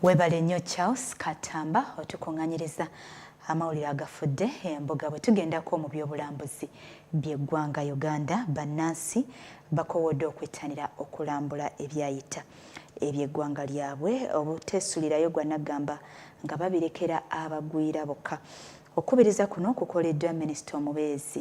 Webale nnyo Charles Katamba otukunganyiriza amawulire agafudde embuga bwe tugendako mu by'obulambuzi by'eggwanga Uganda bannansi bakowodde okwettanira okulambula ebyayita eby'eggwanga lyabwe obuteesulirayo gwa naggamba nga babirekera abagwira bokka okukubiriza kuno kukoleddwa minisita omubeezi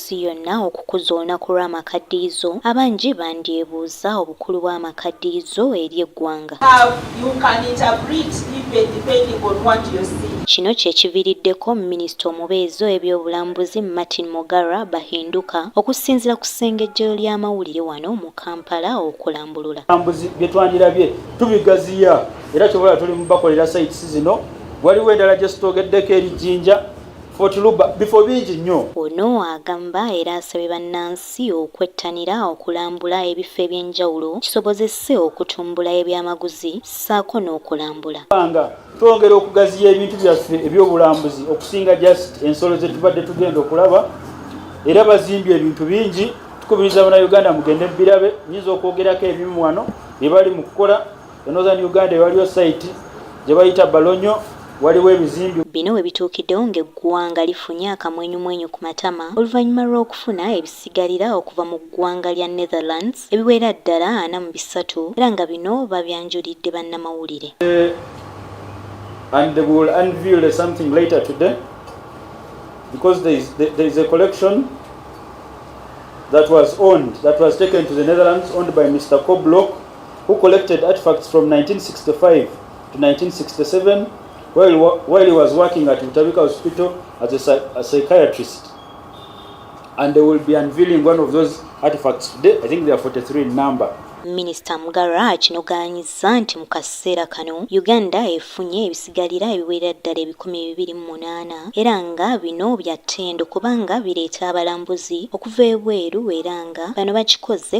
ensi yonna okukuza olunaku lw'amakaddiyizo, abangi bandyebuuza obukulu bw'amakaddiyizo eri eggwanga. Kino kye kiviriddeko minisita omubeezi ow'ebyobulambuzi Martin Mugarra Bahinduka okusinzira ku ssengejjero ly'amawulire wano mu Kampala okulambulula. By'obulambuzi bye twandirabye tubigaziya era kyobola tuli mu bakolera sites zino, waliwo endala gye sitoogeddeko eri Jinja, bifo bingi nnyo. Ono agamba era asabye bannansi okwettanira okulambula ebifo eby'enjawulo kisobozese okutumbula ebyamaguzi ssaako n'okulambula. Nga twongera okugaziya ebintu byaffe eby'obulambuzi okusinga just ensolo ze tubadde tugenda okulaba era bazimbye ebintu bingi tukubiriza bana Uganda mugende birabe nyinza okwogerako ebimu wano bye bali mu kukola E Northern Uganda ewaliyo sayiti gye bayita Balonyo waliwo ebizimbi. Bino we bituukiddewo ng'eggwanga lifunye akamwenyumwenyu ku matama oluvannyuma lw'okufuna ebisigalira okuva mu ggwanga lya Netherlands ebiwera ddala ana mu bisatu era nga bino babyanjulidde bannamawulire. And they will unveil something later today because there is, there is a collection that was owned, that was taken to the Netherlands, owned by Mr. Kobloch. who collected artifacts from 1965 to 1967 while, while he was working at Utabika Hospital as a, a psychiatrist. And they will be unveiling one of those artifacts today. I think they are 43 in number. minisita mugara akinogaanyizza nti mu kaseera kano uganda efunye ebisigalira ebiwerera ddala ebikumi bibiri mu munaana era nga bino bya ttendo kubanga bireeta abalambuzi okuva ebweru era nga bano bakikoze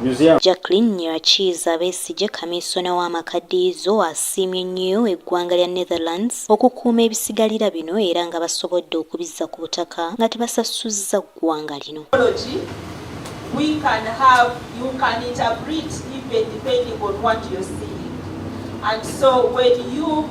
Museum. Jacqueline Nyirakiiza Besigye kamiisona w'amakaddiyizo asiimye nnyo eggwanga lya Netherlands okukuuma ebisigalira bino era nga basobodde okubizza ku butaka nga tebasasuzza ggwanga lino. we can have, you can interpret even depending on what you're seeing. And so when you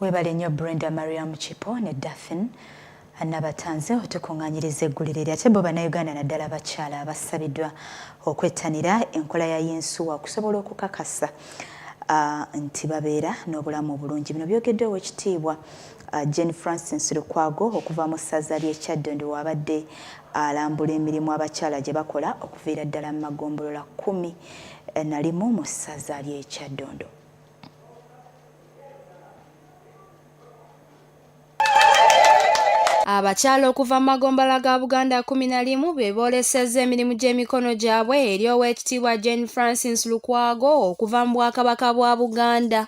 Webale nnyo Brenda Mariam Kipo ne Daphine Nabatanze otukungaanyiriza eggulire lya tebbo bannayuganda naddala abakyala abasabiddwa okwettanira enkola ya yinsuwa okusobola okukakasa uh, nti babeera n'obulamu obulungi bino byogeddwa owekitiibwa uh, Jane Francis Lukwago okuva mu ssaza ly'e Kyaddondo waabadde alambula emirimu abakyala gye bakola okuviira ddala mu magombolola kkumi eh, na limu mu ssaza ly'e Kyaddondo. Abakyala okuva mu magombala ga Buganda kumi na limu be boolesezza emirimu gy'emikono gyabwe eri Oweekitiibwa Jane Francis Lukwago okuva mu Bwakabaka bwa Buganda.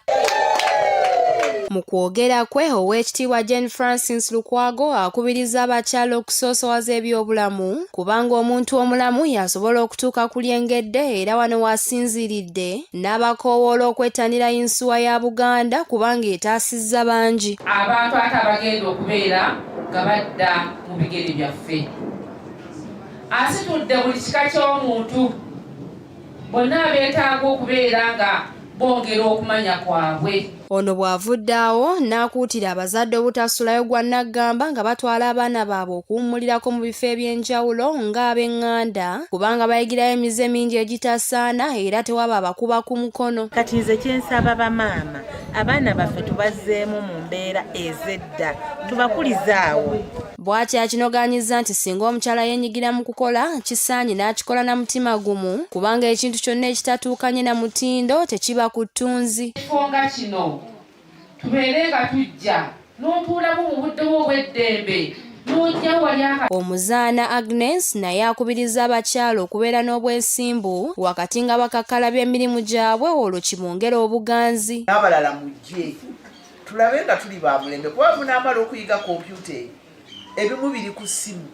Mu kwogera kwe Oweekitiibwa Jane Francis Lukwago akubiriza abakyala okusoosowaza ebyobulamu kubanga omuntu omulamu y'asobola okutuuka ku lyengedde era wano w'asinziiridde n'abakoowoola okwettanira yinsuwa ya Buganda kubanga etaasizza bangi. Abantu ate abagenda okubeera nga badda mu bigere byaffe. Asitudde buli kika ky'omuntu bonna abeetaaga okubeera nga bongera okumanya kwabwe. Ono bw'avudde awo n'akuutira abazadde obutasulayo gwa naggamba nga batwala abaana baabwe okuwummulirako mu bifo eby'enjawulo ng'abeng'anda kubanga bayigirayo emize mingi egitasaana era tewaba abakuba ku mukono. Kati nze kye nsaba bamaama abaana baffe tubazzeemu mu mbeera ez'edda tubakulize awo. Bw'atyo akinogaanyizza nti singa omukyala yenyigira mu kukola kisaanye n'akikola na mutima gumu kubanga ekintu kyonna ekitatuukanye na mutindo tekiba ku ttunzi. Ekifo nga kino tubeere nga tujja n'otuulamu mu budde bwo obw'eddembe Omuzaana Agnes naye akubirizza abakyala okubeera n'obwesimbu wakati nga bakakkalabya emirimu gyabwe olwo kibongere obuganzi. N'abalala mujje. Tulabe nga tuli ba mulembe kuba munaamala okuyiga kompyuta eyo ebimu biri ku ssimu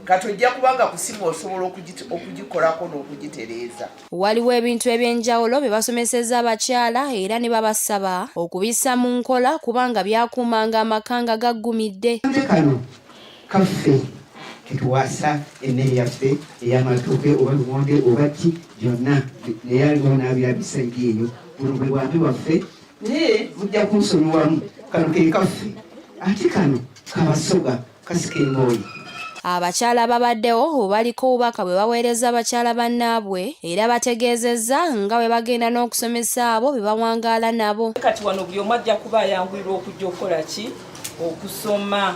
kati ojja kubanga ku ssimu osobola okugikolako n'okugitereeza. Waliwo ebintu eby'enjawulo bye basomesezza abakyala era ne babasaba okubissa mu nkola kubanga byakuumanga amaka nga gaggumidde. Kano kaffe ketuwasa emmere yaffe ey'amatooke oba lumonde oba ki byonna naye aliwo n'abirabisa eri eyo buno bwe bwambi bwaffe naye mujja kunsonyiwamu kano kekaffe ate kano kabasoga kasika embooyi Abakyala babaddewo baliko obubaka bwe baweereza bakyala bannaabwe era bategeezezza nga bwe bagenda n'okusomesa abo be bawangaala nabo. Kati wano buli omu ajja kuba ayanguyirwa okujja okukola ki okusoma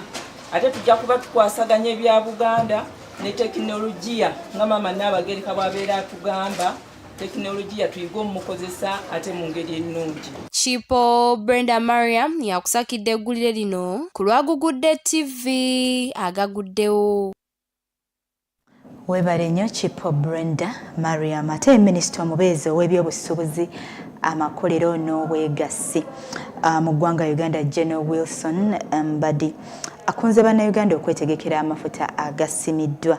ate tujja kuba tukwasaganya ebya Buganda ne tekinologiya nga maama Nnaabagereka bw'abeera atugamba. tekinologiya tuyige omukozesa ate mu ngeri ennungi kipo brenda mariam yakusakidde eggulire lino ku lwagugudde tv agaguddewo webale nnyo kipo brenda mariam ate minisita omubeezi ow'ebyobusuubuzi amakolero n'obwegassi ah, mu ggwanga uganda general wilson mbadi akunze bannayuganda okwetegekera amafuta agasimiddwa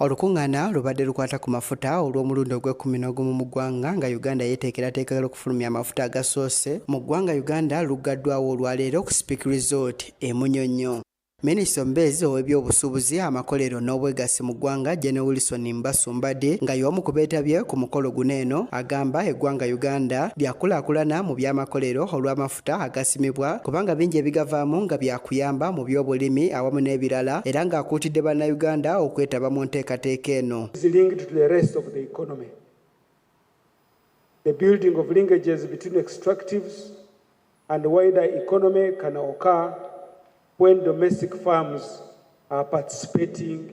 Olukungaana lubadde lukwata ku mafuta olw'omulundi ogw'ekkumi n'ogumu mu ggwanga nga Uganda yeeteekerateekera okufulumya amafuta agasoose mu ggwanga Uganda luggaddwawo olwaleero ku Speke Resort e Munyonyo. Minisita omubeezi ow'ebyobusuubuzi amakolero n'obwegassi mu ggwanga General Wilson Mbasu Mbadi nga y'omu ku beetabye ku mukolo guno eno agamba eggwanga Uganda lyakulaakulana mu by'amakolero olw'amafuta amafuta agasimibwa kubanga bingi ebigavaamu nga byakuyamba mu by'obulimi awamu n'ebirala era ng'akuutidde Bannayuganda okwetaba mu nteekateeka eno. The building of linkages between extractives and wider economy can occur when domestic firms are participating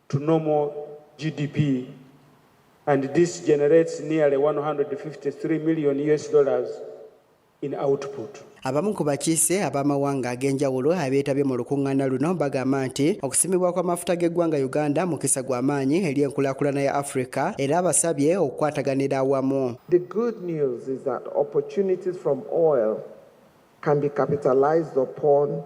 to normal GDP and this generates nearly 153 million US dollars in output. Abamu ku bakiise ab'amawanga ag'enjawulo abeetabye mu lukuŋŋaana luno bagamba nti okusimibwa kw'amafuta g'eggwanga Uganda mukisa gwa maanyi eri enkulaakulana ya Afrika era abasabye okukwataganira awamu. The good news is that opportunities from oil can be capitalized upon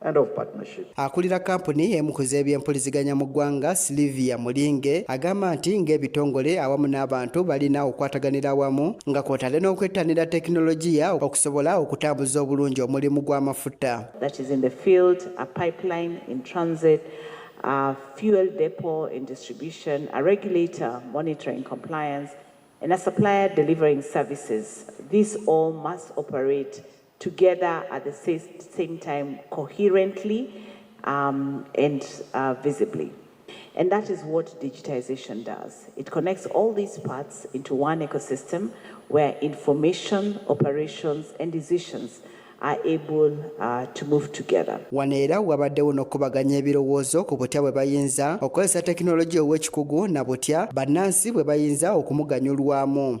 and of partnership. Akulira kampuni emu ku z'ebyempuliziganya mu ggwanga Sylvia Mulinge agamba nti ng'ebitongole awamu n'abantu balina okwataganira awamu nga kwotadde n'okwettanira tekinologiya okusobola okutambuza obulungi omulimu gw'amafuta. That is in the field, a pipeline in transit, a fuel depot in distribution, a regulator monitoring compliance and a supplier delivering services. These all must operate together at the same time coherently um, and uh, visibly. And that is what digitization does. It connects all these parts into one ecosystem where information, operations, and decisions are able uh, to move together. Wano era wabaddewo n'okukubaganya ebirowoozo ku butya bwe bayinza okukozesa tekinologiya ow'ekikugu na butya bannansi bwe bayinza okumuganyulwamu.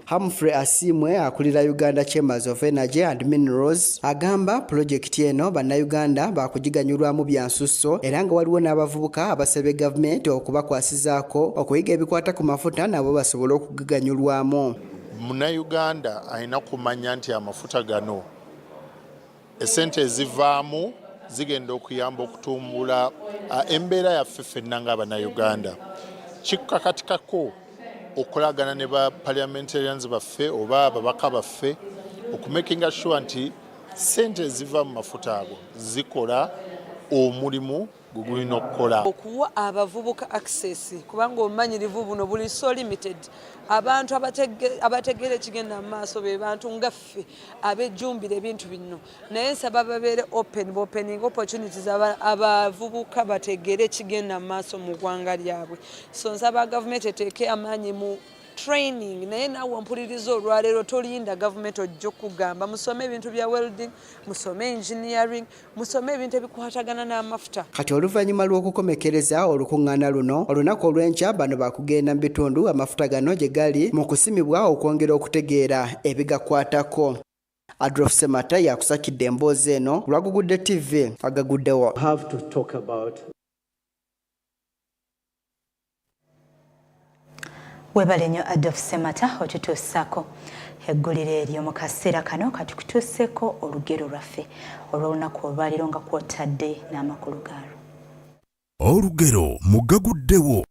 Humphrey Asiimwe akulira Uganda Chambers of Energy and Minerals agamba pulojekiti eno bannayuganda baakugiganyulwamu bya nsusso era nga waliwo n'abavubuka abasabye gavumenti okubakwasizaako okuyiga ebikwata ku mafuta nabo basobole okugiganyulwamu. Munnayuganda alina kumanya nti amafuta gano Essente ezivaamu zigenda okuyamba okutumbula embeera yaffe fenna ng'abanauganda kikakatikako okolagana ne ba parliamentarians baffe oba ababaka baffe okumakinga sure nti sente eziva mu mafuta ago zikola omulimu gwe gulina okukola okuwa abavubuka access kubanga obumanyirivu buno buli so limited abantu abategeera ekigenda mu maaso be bantu nga ffe abejjumbira ebintu bino naye nsaba babeere open bopening opportunities abavubuka bategeere ekigenda mu maaso mu ggwanga lyabwe so nsaba gavumenti eteeke amaanyi mu training naye naawe mpuliriza olwaleero tolinda gavumenti ojja okugamba musome ebintu bya welding musome engineering musome ebintu ebikwatagana n'amafuta kati oluvannyuma lw'okukomekereza olukuŋŋaana luno olunaku olw'enkya bano bakugenda mu bitundu amafuta gano gye gali mu kusimibwa okwongera okutegeera ebigakwatako adolf semata yakusakidde emboozi eno lwagugudde ttivi agaguddewo webale nnyo adolf semata otutuusaako eggulire eryo mu kaseera kano katukutuuseeko olugero lwaffe olw'olunaku olwaliro nga kwotadde n'amakulu gaalwo olugero mugaguddewo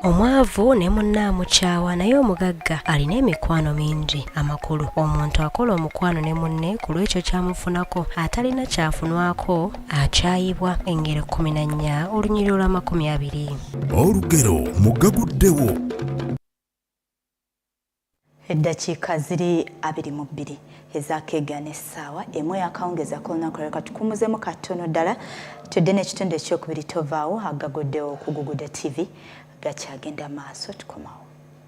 omwavu ne munne amukyawa naye omugagga alina emikwano mingi amakulu omuntu akola omukwano ne munne ku lw'ekyo kyamufunako atalina kyafunwako akyayibwa engero kkumi na nnya olunyiriro lw'amakumi abiri olugero mugaguddewo eddakiika ziri abiri mu bbiri ezakeegana essaawa emu yakawungeza ku lunaku lero katukumuzemu katono ddala tudde n'ekitundu ekyokubiri tovaawo agaguddewo okuguguda tv gakyagenda maaso tukomawo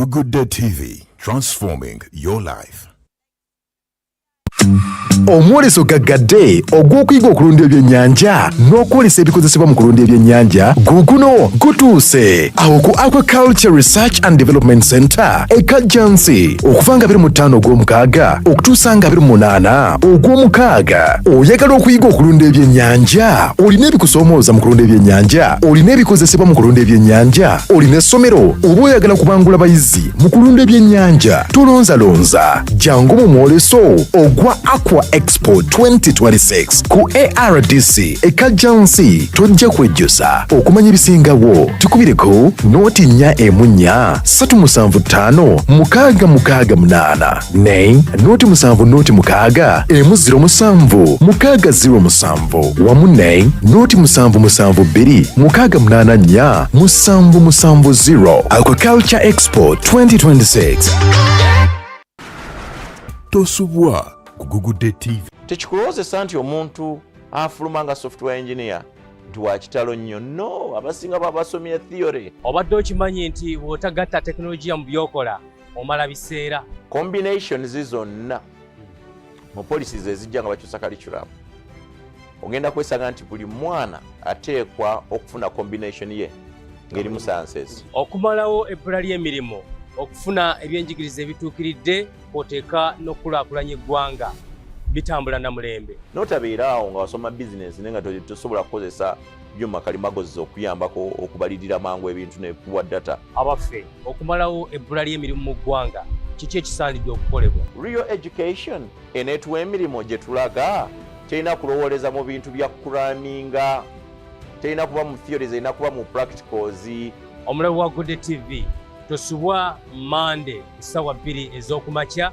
Gugude TV, transforming your life. omwoleso gaggadde ogw'okuyiga okulunda ebyennyanja n'okwolesa ebikozesebwa mu kulunda ebyennyanja guguno gutuuse awo ku aquaculture research and development center ekajjansi okuva nga 25 ogw'omukaaga okutuusa nga 28 ogw'omukaaga oyagala okuyiga okulunda ebyennyanja olina ebikusoomooza mu kulunda ebyennyanja olina ebikozesebwa mu kulunda ebyennyanja olina essomero oba oyagala kubangula bayizi mu kulunda ebyennyanja tulonzalonza jangu mu mwoleso ogwa aqua expo 2026 ku ardc ekajjansi tojja kwejjusa okumanya ebisingawo tukubireko nootinnya emunnya 375 mukaaga mukaaga munaana Naye nooti musanvu nooti mukaaga emu ziro musanvu mukaaga ziro musanvu wamu naye nooti musanvu musanvu bbiri mukaaga munaana nnya musanvu musanvu ziro Aquaculture Expo 2026 tosubwa kugugudde TV tekikulowozesa nti omuntu afuluma nga software engineer nti wakitalo nnyo no abasinga babasomye theory obadde okimanyi nti bw'otagatta tekinologiya mu by'okola omala biseera combinations zonna hmm. mu policies ezijja nga bakyusa curriculum ogenda kwesanga nti buli mwana ateekwa okufuna combination ye ngeri musanses okumalawo ebbula ly'emirimu okufuna ebyenjigiriza ebituukiridde kwoteeka n'okukulaakulanya eggwanga bitambula na mulembe notabeeraawo nga wasoma bizinensi naye nga tosobola kukozesa byuma kalimagozi okuyambako okubalirira mangu ebintu nekuwa data abaffe okumalawo ebbula ly'emirimu mu ggwanga kiki ekisaanidde okukolebwa real education eneetuwa emirimu gye tulaga terina kulowooleza mu bintu bya kuraminga terina kuba mu theories erina kuba mu practicals omulabi wa gode tv tosubwa mande ssaawa bbiri ez'okumakya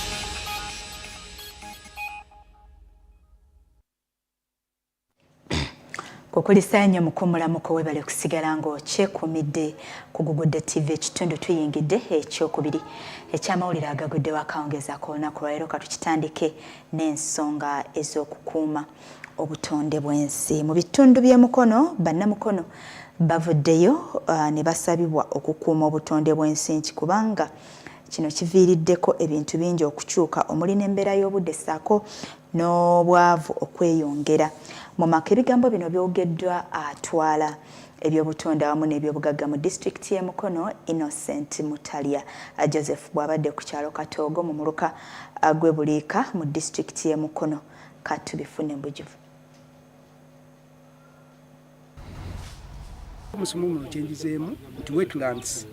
kukulisa nnyo mukumulamuko webale kusigala ng'okyekumidde ku gugudde tv ekitundu tuyingidde ekyokubiri ekyamawulire agaguddewo akawungeeza ku lunaku lwaleero katukitandike n'ensonga ez'okukuuma obutonde bw'ensi mu bitundu by'emukono bannamukono bavuddeyo uh, ne basabibwa okukuuma obutonde bw'ensi nti kubanga Kino kiviiriddeko ebintu bingi okukyuka omuli n'embeera y'obudde ssaako n'obwavu okweyongera mu maka. Ebigambo bino byogeddwa atwala ebyobutonde awamu n'ebyobugagga mu disitulikiti y'e Mukono, Innocent Mutalya Joseph bw'abadde ku kyalo Katoogo mu muluka gw'e Buliika mu disitulikiti y'e Mukono. Katubifune bujuvu. omusumumulo kyenjizeemu nti wetlands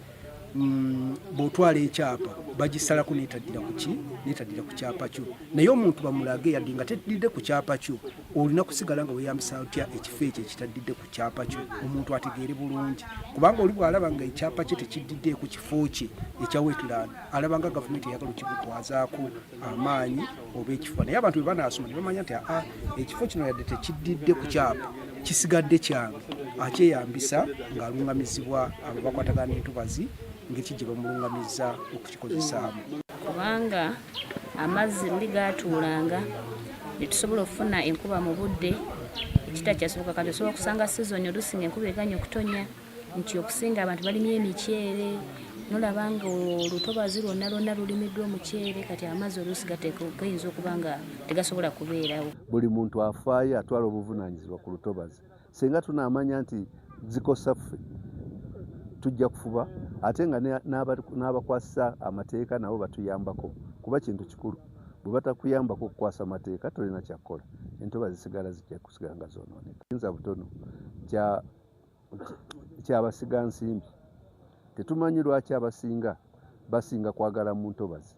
mm, bwotwala ekyapa bagisalako netaddira kuki netaddira ku kyapa kyo naye omuntu bamulage yadde nga teddidde ku kyapa kyo olina kusigala nga weyambisa otya ekifo ekyo ekitaddidde ku kyapa kyo omuntu ategeere bulungi kubanga oli bwalaba nga ekyapa kye tekiddidde ku kifo kye ekya wetland alaba nga gavumenti eyagala okikutwazaako amaanyi oba ekifo naye abantu bebanaasoma nebamanya nti aa ekifo kino yadde tekiddidde ku kyapa kisigadde kyange akyeyambisa ng'alungamizibwa abo bakwatagana n'entobazi ng'eki gye bamulungamizza okukikozesaamu kubanga amazzi luli gaatuulanga netusobola okufuna enkuba mu budde ekitakyasoboka kati osobola okusanga sizoni olusinga enkuba eganya okutonya nti okusinga abantu balimye emiceere nolaba nga olutobazi lwonna lwonna lulimiddwa omuceere kati amazzi oluusi gayinza okuba nga tegasobola kubeerawo buli muntu afaayo atwala obuvunanyizibwa ku lutobazi singa tunaamanya nti zikosa ffe tujja kufuba ate nga n'abakwasisa amateeka nabo batuyambako kuba kintu kikulu bwe batakuyambako okukwasa amateeka tolina kyakukola entoba zisigala zijja kusigala nga zonooneka yinza butono kya kyabasiga nsimbi tetumanyi lwaki abasinga basinga kwagala mu ntobazi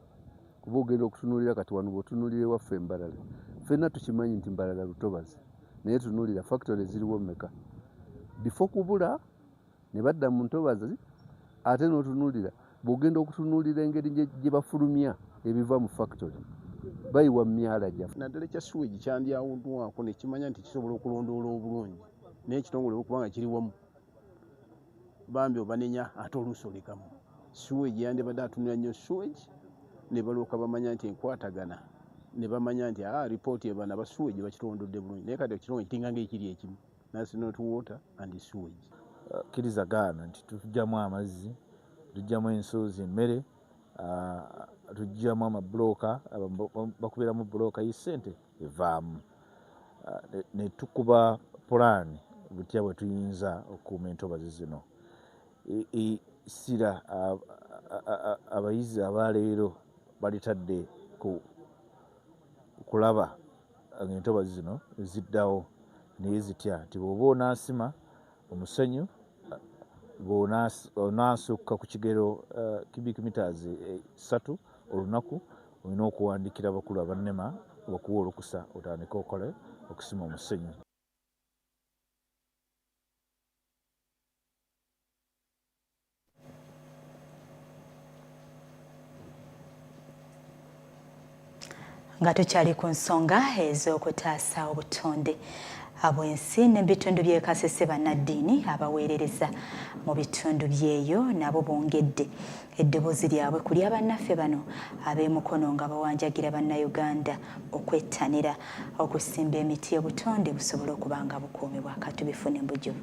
kuba ogenda okutunulira kati wano bwotunulira ewaffe embalala fenna tukimanyi nti mbalala lutobazi naye tunulira factory ziriwo meka bifo kubula ne badda mu ntobazi ate n'otunulira bwogenda okutunulira engeri gye bafulumya ebiva mu factory bayiwa mu myala gyaffe naddala ekya siwegi kyandyawuddwako nekimanya nti kisobola okulondoola obulungi naye ekitongole okubanga kiri wamu bambi obanenya ate oluusi olekamu siwegi yandibadde atunira nnyo siwegi ne balwoka bamanya nti enkwatagana ne bamanya nti a ah, ripooti ebana basiwegi bakitondodde bulungi naye kati ekitongole kitinga nga ekiri ekimu nasinot water and siwegi uh, kiriza gaana nti tujjamu amazzi tujjamu ensuuzi emmere uh, tujjamu amabulooka bakubiramu bulooka yi ssente evaamu eh, ne tukuba pulaani butya bwe tuyinza okukuuma entobazi zino essira abayizi abaleero balitadde ku kulaba ngaentobazi zino ziddawo naye zitya nti bwoba onaasima omusenyu bw'onaasukka ku kigero eh, cubic meters eh, ssatu olunaku olina okuwandiikira abakulu abannema okuwa olukusa otandike okole okusima omusenyu nga tukyali ku nsonga ez'okutaasa obutonde abwensi n'ebitundu by'e Kasese bannaddiini abaweerereza mu bitundu byeyo nabo bongedde eddoboozi lyabwe ku lya bannaffe bano ab'emukono nga bawanjagira bannayuganda okwettanira okusimba emiti obutonde busobole okuba nga bukuumibwa katubifune mbujuvu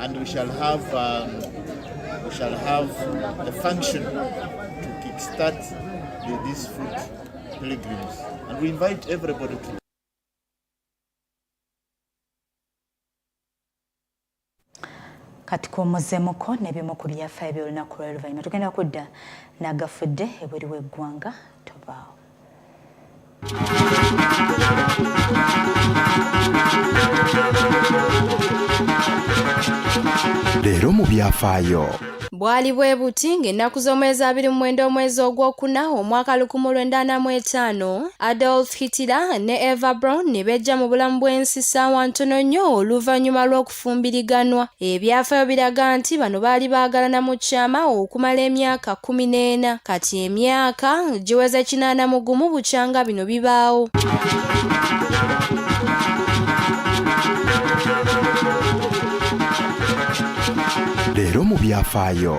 and we shall have um, we shall have a function to kickstart the, these food pilgrims and we invite everybody to katikomozemuko nebimu ku byafaayo by'olunaku lw'oluvannyuma tugenda kudda nagafudde ebweru w'eggwanga tobaawo leero mu byafaayo bwali bwe buti ng'ennaku z'omwezi abiri mu mwenda omwezi ogwokuna omwaka lukumu lwenda ana mu etaano adolf hitler ne eva brown ne bejja mu bulamu bw'ensi ssaawa ntono nnyo oluvannyuma lw'oku okufumbiriganwa. Ebyafaayo biraga nti bano baali baagalana mu kyama okumala emyaka kkumi n'ena kati emyaka giweze kinaana mu gumu bukyanga bino bibaawo. Leero mu byafaayo.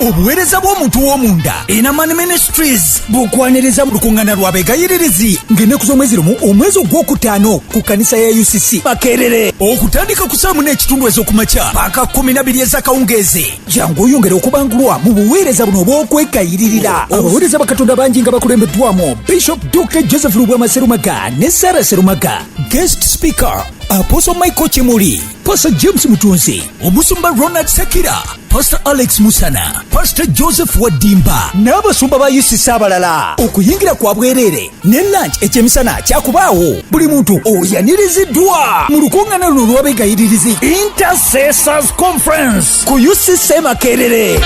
obuweereza bw'omuntu w'omunda enaman ministries bukwaniriza mu lukuŋŋana lwa begayiririzi ng'ennaku z'omwezi lumu omwezi ogw'okutaano ku kkanisa ya ucc makerere okutandika ku saamu n'ekitundu ez'okumakya paaka kumi na biri ez'akawungeezi jangu oyongere okubangulwa mu buweereza buno obw'okwekayiririra abaweereza bakatonda bangi nga bakulembeddwamu bishop dr joseph lubwama serumaga ne sara serumaga guest speaker apostle michael kimuli Pastor James Mutunzi, Omusumba Ronald Sakira, Pastor Alex Musana, Pastor Joseph Wadimba n'abasumba ba UCC abalala. Okuyingira kwa bwereere ne lunch ekyemisana kyakubaawo. Buli muntu oyaniriziddwa mu lukuŋŋaana luno olw'abeegayiririzi Intercessors Conference ku UCC Makerere.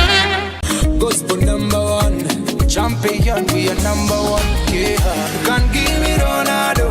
Gospel number one, champion, we are number one. Yeah. Can't give me Ronaldo.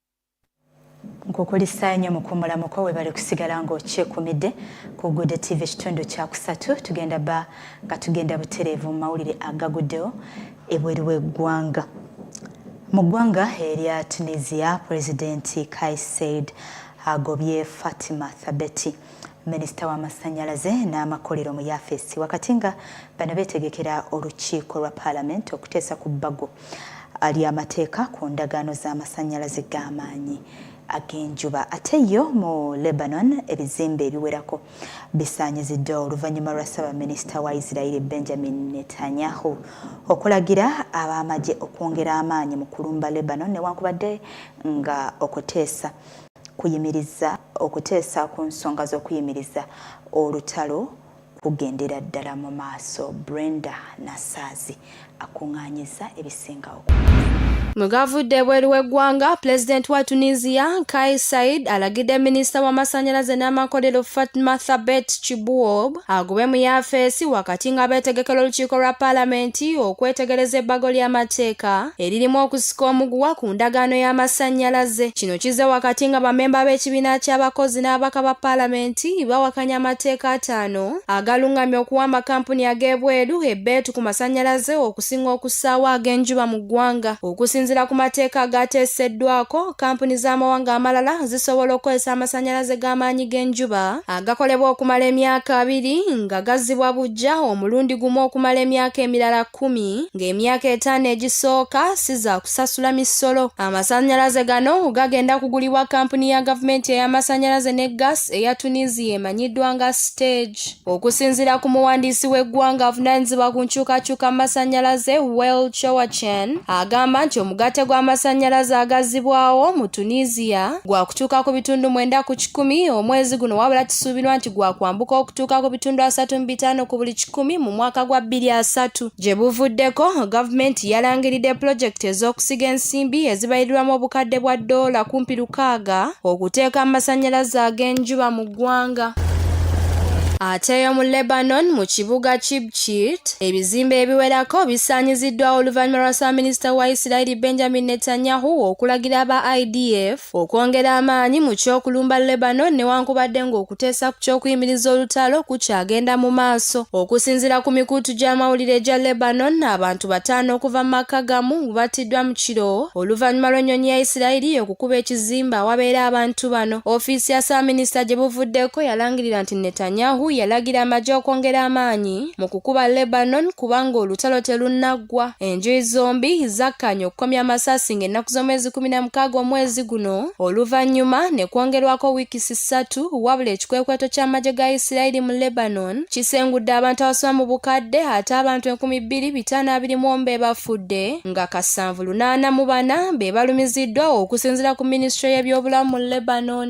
nkukulisa nnyo mukuumula muko webale kusigala ng'okyekumidde ku Good TV ekitundu kyakusatu tugenda ba nga tugenda butereevu mu mawulire agaguddewo ebweru w'eggwanga mu ggwanga erya Tunisia pulezidenti Kais Saied agobye Fatima Thabeti minisita w'amasannyalaze n'amakolero mu yafeesi wakati nga bano beetegekera olukiiko lwa paalamenti okuteesa ku bbago ly'amateeka ku ndagaano z'amasannyalaze g'amaanyi ag'enjuba ate yo mu lebanon ebizimbe ebiwerako bisaanyiziddwa oluvannyuma lwa ssaabaminisita wa isirairi benjamin netanyahu okulagira ab'amagye okwongera amaanyi mu kulumba lebanon newankubadde nga okuteesa kuyimirizza okuteesa ku nsonga z'okuyimiriza olutalo kugendera ddala mu maaso Brenda Nasaazi akung'anyizza ebisinga okuwulira. Mu gavudde ebweru w'eggwanga, Pulezidenti wa Tunisia Kais Saied alagidde minisita w'amasannyalaze n'amakolero Fatma Thabet Chibouob agobwe mu yafeesi wakati nga beetegekera olukiiko lwa paalamenti okwetegereza ebbago ly'amateeka eririmu okusika omuguwa ku ndagaano y'amasannyalaze kino kize wakati nga bamemba b'ekibiina ky'abakozi n'ababaka ba paalamenti bawakanya amateeka ataano agalungamya okuwa amakampuni ag'ebweru ebbeetu ku masannyalaze okusinga okussaawo ag'enjuba mu ggwanga okusinziira ku mateeka agaateeseddwako kampuni z'amawanga amalala zisobola okukozesa amasannyalaze g'amaanyi g'enjuba agakolebwa okumala emyaka abiri nga gazzibwa bujja omulundi gumu okumala emyaka emirala kkumi ng'emyaka etaano egisooka si za kusasula misolo amasannyalaze gano gagenda kugulibwa kampuni ya gavumenti ey'amasannyalaze ne gas eya tunisia emanyiddwa nga stage okusinziira ku muwandiisi w'eggwanga avunanyizibwa ku nkyukakyuka mu masannyalaze well chowachen agamba nti omugatte gw'amasannyalaze agazzibwawo mu tunisia gwa kutuuka ku bitundu mwenda ku kikumi omwezi guno wabula kisuubirwa nti gwa kwambuka okutuuka ku bitundu asatu mu bitaano ku buli kikumi mu mwaka gwa bbiri asatu gye buvuddeko gavumenti yalangiridde pulojekiti ez'okusiga ensimbi ezibayirirwamu obukadde bwa ddoola kumpi lukaaga okuteeka amasannyalaze ag'enjuba mu ggwanga ateeyo mu lebanon mu kibuga ki Kit, ebizimbe ebiwerako bisaanyiziddwa oluvannyuma lwa ssaabaminisita wa Isirayiri Benjamin Netanyahu okulagira aba IDF okwongera amaanyi mu ky'okulumba Lebanon newankubadde ng'okuteesa ku ky'okuyimiriza olutalo kukyagenda mu maaso. Okusinziira ku mikutu gy'amawulire egya Lebanon, abantu bataano okuva mu maka gamu battiddwa mu kiro oluvannyuma lw'ennyonyi ya Isirayiri okukuba ekizimbe awabeera abantu bano. Ofiisi ya ssaabaminisita gye buvuddeko yalangirira nti Netanyahu yalagira amagye okwongera amaanyi mu kukuba Lebanon kubanga olutalo telunnaggwa. Enjuyi zombi zakkaanya okukomya amasasi ng'ennaku z'omwezi kumi na mukaaga omwezi guno oluvannyuma ne kwongerwako wiiki ssatu wabula ekikwekweto ky'amagye ga Yisirayiri mu Lebanon kisengudde abantu abasoba mu bukadde ate abantu enkumi bbiri bitaano abiri mu omu be bafudde nga kasanvu lunaana mu bana be balumiziddwa okusinziira ku minisitule y'ebyobulamu mu Lebanon.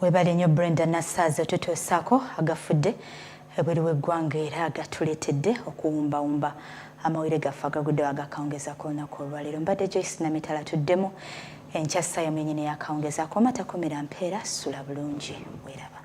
webale nnyo brenda nassaazi otutuusaako agafudde ebweru w'eggwanga era agatuleetedde okuwumbawumba amawulire gaffe agaguddewo agakawungeza ku lunaku olwaleero mbadde joyce namitala tuddemu enkya ssaayo mwenyini yakawungeza akoomatakomera mpeera sula bulungi weraba